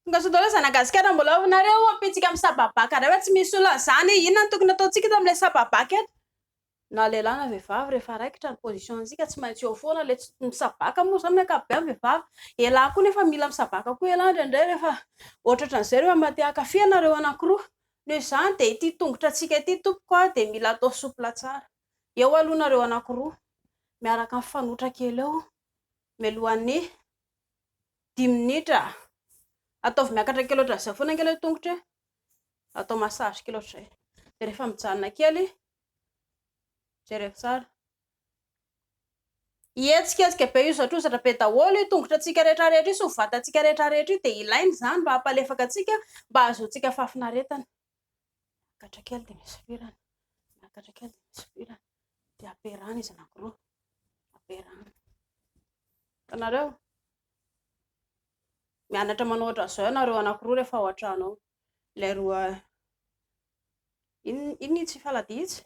Tonga Zanagasikara mbola ao nareo ampitsika amin'ny sababaka ray fa tsy misy olona zany inona no tokony ataontsika eto amin'ilay sababaka eto na lehilahy na vehivavy rehefa raikitra ny position antsika tsy maintsy eo foana ilay tsy misabaka moa zany ny ankapobeny vehivavy elah koa nefa mila misabaka koa elah indraindray rehefa ohatratra an'izay rehefa mba te hankafy anareo anankiroa noho izany dia ity tongotra antsika ity tompoko aho dia mila atao soupla tsara Eo aloha nareo anakiroa miaraka mifanotra kely eo mialohan'ny dimy minitra. Ataovy miakatra kely ohatran'izay foana kely ny tongotra e. Atao massage kely ohatr'izay. Dia rehefa mijanona kely, jereo tsara. Hihetsiketsika be io zatrozatra be daholo io tongotratsika rehetra rehetra io sy ny vatantsika rehetra rehetra io dia ilaina izany mba hampalefaka antsika mba hahazoantsika fahafinaretana. Miakatra kely dia misy firany, miakatra kely dia misy firany, dia ampiarahana izy anankiroa, ampiarahana. Hitanareo? Mianatra manao ohatran'izao ianareo anankiroa rehefa ao an-trano ao. Ilay roa, inona inona itsy faladia itsy?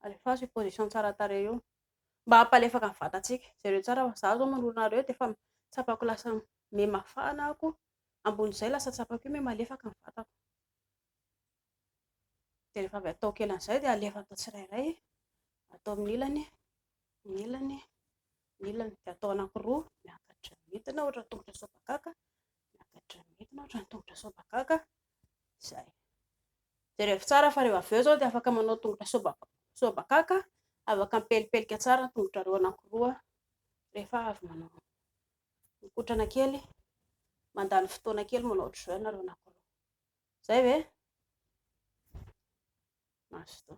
Alefaso io position tsara tarehy io. Mba hampalefaka ny vatantsika. Jereo tsara fa izaho izao manoloana anareo dia efa tsapako lasa miha mafana ako. ambony izay lasa tsapako eo hoe malefaka ny vatako. Dia rehefa avy ataoko ela an'izay dia alefa atao tsirairay, atao amin'ny ilany, amin'ny ilany, amin'ny ilany. Dia atao anankiroa, miakatra midina ohatra ny tongotra sobakaka, miakatra midina ohatra ny tongotra sobakaka, izay. Jerevo tsara fa rehefa avy eo izao dia afaka manao tongotra sobakaka, sobakaka, afaka mipelipelika tsara ny tongotrareo anankiroa rehefa avy manao. Mikotrana kely, mandany fotoana kely manao jeûne nareo anakoroa. Zay ve? Mazotoa.